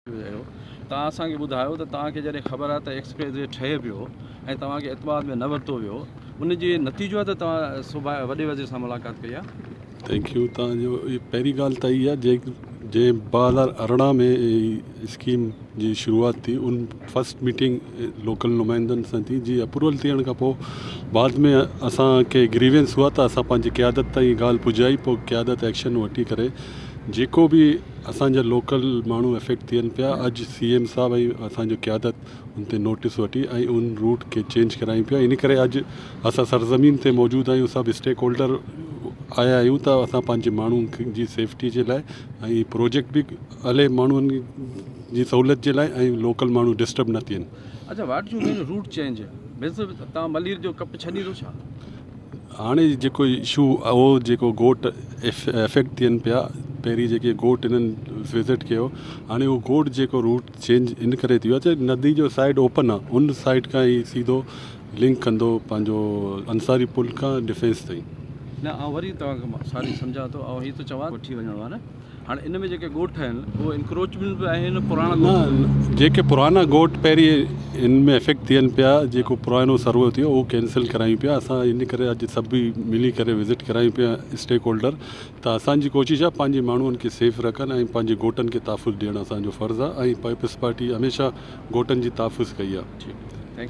ويو توهان اسان کي ٻڌايو ته توهان کي جڏهن خبر آهي ته ايڪسپريس وي ٺهي پيو ۽ توهان کي اعتماد ۾ نه ورتو ويو ان جي نتيجو آهي ته توهان صوبا وڏي وزير سان ملاقات ڪئي آهي ٿينڪ يو توهان جو پهرين ڳالهه ته اها جي جي ٻه هزار ارڙهن ۾ اسڪيم جي شروعات ٿي ان فرسٽ ميٽنگ لوڪل نمائندن سان ٿي جي اپروول ٿيڻ کان پوء بعد ۾ اسان کي گريوينس هئا ته اسان پنهنجي قيادت تائين ڳالهه پڄائي پوء قيادت ايڪشن وٺي ڪري جيڪو بي اسان جا لوڪل ماڻهو افيڪٽ ٿين پيا اڄ سي ايم صاحب ۽ اسان جو قيادت ان تي نوٽس وٺي ۽ ان روٽ کي چينج ڪرايون پيا ان ڪري اڄ اسان سرزمين تي موجود آهيون سڀ اسٽيڪ هولڊر آيا آهيون ته اسان پنهنجي ماڻهن جي سيفٽي جي لاء ۽ پروجيڪٽ به هلي ماڻهن جي سهولت جي لاء ۽ لوڪل ماڻهو ڊسٽرب نه ٿين اڇا what you mean route change means تان ملير جو ڪپ ڇڏيندو ڇا؟ هاڻي جيڪو اشو اهو جيڪو گوٽ افيڪٽ ٿين پيا پهرين جيڪي گوٽ انهن وزٽ ڪيو هاڻي اهو گوٽ جيڪو روٽ چينج ان ڪري ٿي ويو آهي ته ندي جو سائيڊ اوپن آهي ان سائيڊ کان هي سيڌو لنڪ ڪندو پنهنجو انصاري پل کان ڊفينس تائين نه آئون وري توهان کي ساري سمجهان ٿو آئون هي ٿو چوان ڪوٺي وڃڻ وارا هاڻ ان ۾ جيڪي ڳوٺ آهن اهي انڪروچمينٽ به آهن پراڻا نه جيڪي پرانا ڳوٺ پهرين ان ۾ افيڪٽ ٿين پيا جيڪو پراڻو سروي ٿيو اهو ڪينسل ڪرايون پيا اسان ان ڪري اڄ سڀ ئي ملي ڪري وزٽ ڪرايون پيا اسٽيڪ هولڊر ته اسان جي ڪوشش آهي پنهنجي ماڻهن کي سيف رکن ۽ پنهنجي ڳوٺن کي تحفظ ڏيڻ اسان جو فرض آهي ۽ پيپلز پارٽي هميشه ڳوٺن جي تحفظ ڪئي آهي